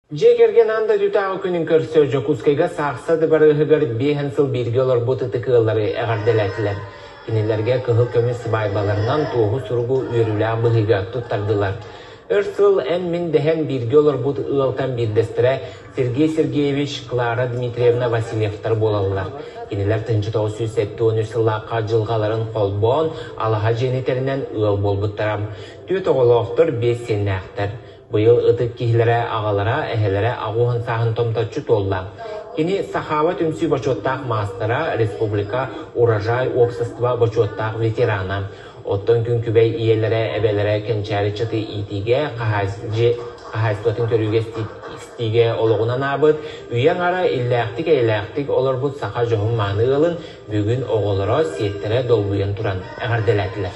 Дьиэ кэргэн аан дойдутааҕы күнүн көрсө Дьокуускайга Саахса дыбарыаһыгар биэһэн сыл бииргэ олорбут ытык ыаллары эҕэрдэлээтилэр. Кинилэргэ кыһыл көмүс сыбаайбаларынан туоһу суругу үөрүүлээх быһыыга туттардылар. Өр сыл эн-мин дэһэн бииргэ олорбут ыалтан биирдэстэрэ Сергей Сергеевич, Клара Дмитриевна Васильевтар буолаллар. Кинилэр тынчы сүүс сэттэ уон үс сыллаахха дьылҕаларын холбоон, алаһа дьиэни тэринэн ыал буолбуттара. Түөрт оҕолоохтор, биэс сиэннээхтэр. Быйыл ытык киһилэрэ, аҕалара, эһэлэрэ аҕу уһун сааһын томточчу туолла. Кини Сахаба түмсүү бочуоттаах маастара, республика Урожай уопсастыба бочуоттаах ветерана. Оттон күн күбэй ийэлэрэ, эбэлэрэ кэнчээри чаты иитиигэ, хаһаайыстыбатын көрүүгэ истиигэ олоҕунан аабыт, үйэ аҥара иллээхтик-эйэлээхтик олорбут саха дьоһун мааны ыалын бүгүн оҕолоро, сиэттэрэ долгуйан туран эҕэрдэлээтилэр.